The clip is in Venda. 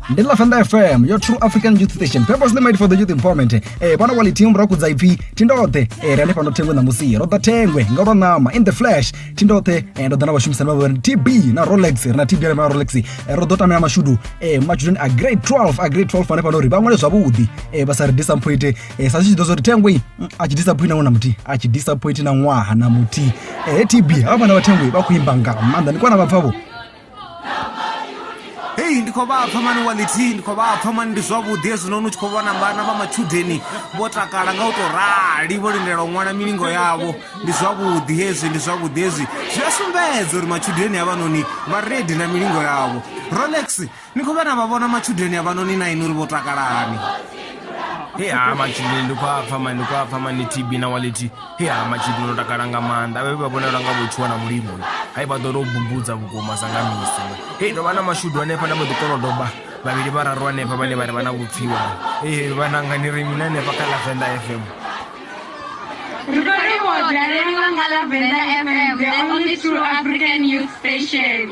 ndi la fanda fm your true african youth station purposely made for the youth empowerment eh bana wali team ra kudza ipfi tindote eh rane pano thengwe na musi ro da thengwe nga ro nama in the flash tindote eh ndo dana vhashumisa na vhana TB na Rolex na TB na Rolex eh, ro do tamela mashudu eh machudeni a grade 12 a grade 12 ane pano ri vhaṅwale zwavhuḓi eh vha sa ri disappoint eh sa zwi tshi ḓo zwo ri thengwe mm, a tshi disappoint na ṅwana muthi a tshi disappoint na ṅwaha na muthi eh TB hafha na vhathengwe vha khou imba nga maanḓa ni kwana vha pfavho hei ndi khou vhapfa mani walithi ndi khou vhapfa mani ndi zwavhuḓi hezwinoni u tshi khou vhona vhana vha matshudeni vho takala nga u tou rali vho lindela u ṅwala milingo yavho ndi zwavhuḓi hezwi ndi zwavhuḓi hezwi zwi a sumbedza uri matshudeni avhanoni vha redi na milingo yavho rolex ni khou vhana vha vhona matshudeni avhanoni na ini uri vho takalani he ha matshudeni ndi khou apfa mani ndi khou apfa mani tb na walithi ya matshidzi ndo takala nga maanḓa vhe vha vhonala nga vhotshua na mulimo hai vha ḓo tou bumbudza vhukuma sa nga misi hei ndo vha na mashudu hanefha na vhoḓikolodoba vhavhili vhararu hanefha vhane vha ri vha na vhupfiwa ee vhanangani ri mini hanefha kha lavenda fm Ri khou livhuwa u dalela nga Lavenda FM, the only true African youth station.